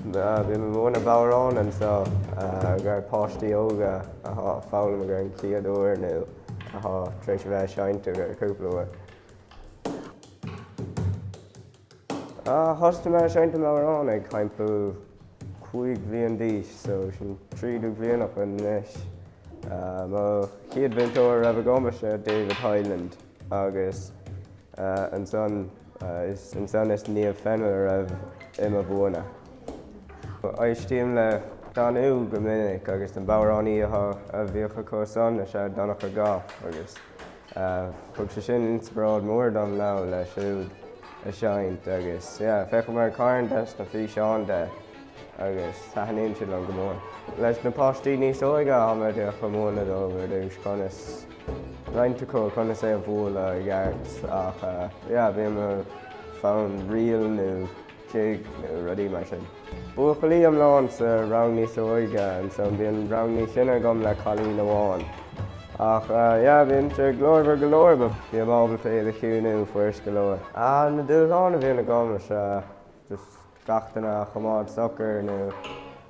Bím ag múineadh bodhráin anso do páistí óga athá a' foghlaim don chéad uair nú athá tar éis a bheith a' seinnt ar feadh cúpla uair thosuigh mé a' seinnt an bhodhrán ag thimpeall cúig bhliain d'aois so sin trí déag bliain acu anois. Mo chéad mhúinteoir a raibh agam is ea David Hyland. Agus ansan is ansan is Niamh Fennell a raibh i mo mhúineadh. Éistím le Danú go minic agus an bodhránaí a bhíodh acu san is ea Donncha Gough agus thug sé sin inspioráid mhór dom le leanúint a' seinnt agus yeah, féachaim ar carn des na físeáin de agus taithníonn siad liom go mór. Leis na páistí níos óige, táimid ag múineadh dóibh ar dtús conas. greim air agus conas é a bhualadh i gceart ach yeah bíonn fonn reel nó jig nó rudaí mar sin. Buachaillí iomlán sa rang níos óige ansan bíonn rang níos sine agam le cailín amháin ach yeah bíonn siad glórmhar go leor ach bím ábalta iad a chiúnú fuirist go leor. Ah na dúshláin a bhíonn agam is ea just gach duine a choimeád socair nó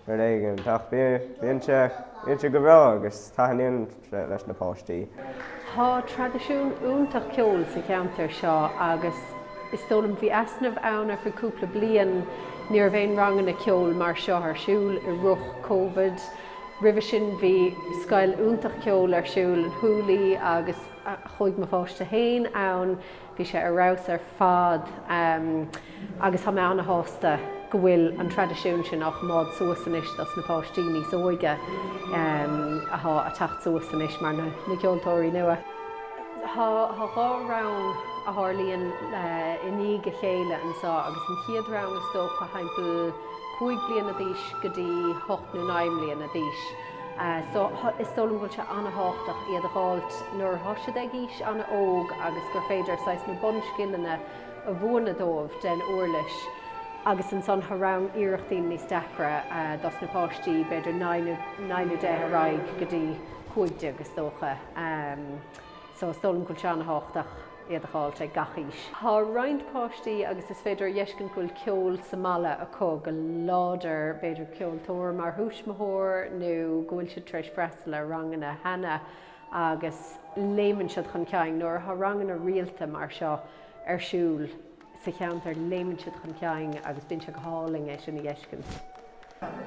rud éigin. Ach bíonn sé bíonn sé go breá agus taithníonn sé leis na páistí. Tá traidisiún iontach ceoil sa cheantar seo agus is dóigh liom bhí easnamh ann ar feadh cúpla bliain ní raibh aon ranganna ceoil mar seo ar siúl i rith Covid. Roimhe sin bhí scoil iontach ceoil ar siúl Húlaí agus chuaigh mo pháistí féin ann Bhí sé ar fheabhas ar fad agus thá mé an-shásta go bhfuil an traidisiún sin á choimeád suas anois dos na páistí níos óige athá a' teacht suas anois mar na ceoltóirí nua. Thá dhá rang a thárlaíonn i ndiaidh a chéile anso agus an chéad rang is dócha thimpeall cúig bliana d'aois go dtí hocht nó naoi mbliana d'aois. So is dóigh liom go bhfuil sé an-thábhachtach iad a dh'fháilt nuair athá siad ag aois an-óg agus gur féidir saghas na bunscileanna a mhúineadh dóibh den uirlis agus ansan thá rang iarrachtín níos deacra dos na páistí, b'fhéidir naoi nó naoi nó deich ar aghaidh go dtí cúig déag is dócha. So is dóigh liom go bhfuil sé an-thábhachtach. iad a dh'fháilt ag gach aois. Thá roinnt páistí agus is féidir a dh'fheiscint go bhfuil ceol sa mbaile acu go láidir, b'fhéidir ceoltóir mar thuismitheoir nó go bhfuil siad tar éis freastal ar ranganna cheana agus léimeann siad chun cinn nuair athá ranganna rialta mar seo ar siúl. sa cheantar léimeann siad chun cinn agus bíonn sé go hálainn é sin a fheiscint.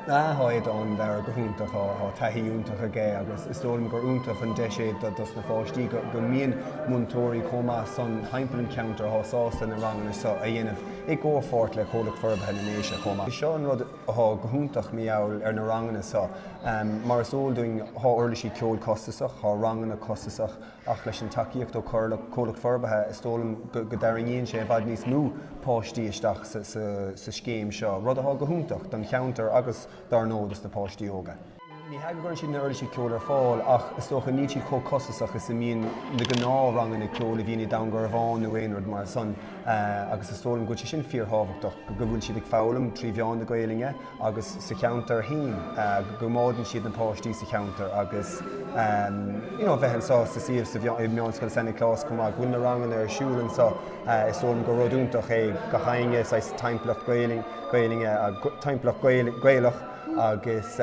Thá hioid an bhearradh go hiontach, thá taithí iontach aige agus is dóigh liom gur iontach an deis é dos mo pháistí go mbíonn múinteoirí chomh maith san thimpeall an cheantair thá sásta na ranganna seo a dhéanamh i gcomhpháirt le Comhlucht Forbartha na nDéise chomh maith. Seo an rud thá go hiontach mar gheall ar na ranganna seo mar is eol dúinn thá uirlisí ceoil costasach, thá ranganna costasach, ach leis an tacaíocht ó Comhlucht Forbartha is dóigh liom go dtarraingíonn sé i bhfad níos mó páistí isteach sa scéim seo, rud atá go hiontach don cheantar agus, dár ndóigh, dos na páistí óga. Ní hea go gcuireann siad na uirlisí ceoil ar fáil ach is dócha níl siad chomh costasach is a mbíonn na gnáthranganna ceoil a bhíonn i nDún Garbhán nó aon rud mar san agus is dóigh liom go bhfuil sé sin fíor thábhachtach go bhfuil siad ag foghlaim trí mheán na Gaolainne agus sa cheantar fhéin go gcoimeádann siad na páistí sa cheantar agus you know a bheith anso sa suíomh sa i Meánscoil San Nioclás chomh maith go bhfuil na ranganna ar siúl anso is dóigh liom gur rud iontach é gach éinne saghas timpeallacht Gaeilge timpeallacht Gaelach agus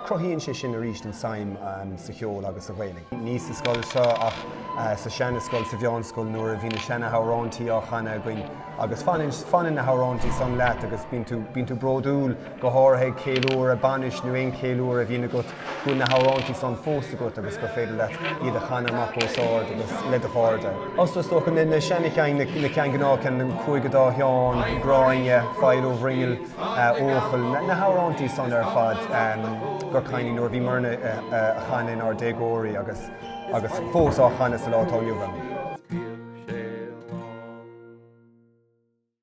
cruthaíonn sé sin arís an tsuim sa cheol agus sa Ghaeilge. ní sa scoil seo ach sa seanascoil sa mheánscoil nuair a bhí na seana hamhráintí á chanadh againn. Agus fanann, fanann na hamhráintí san leat agus bíonn tú, bíonn tú bródúil, go háirithe ag ceiliúradh bainis nó aon cheiliúradh a bhíonn agat, go bhfuil na hamhráintí san fós agat agus gur féidir leat iad a chanadh amach os ard agus le do chairde. Os rud is dócha, na, na seana-cheann, na, na ceann gnáth ceann, an Cúigear Dá Sheán, Gráinne, File Ó Bhroinghill, Eochaill, na, na hamhráintí san ar fad gur cuimhin nuair a bhíomarna a, a, a chanadh inár déagóirí agus. agus fós á chanadh sa lá atá inniu ann.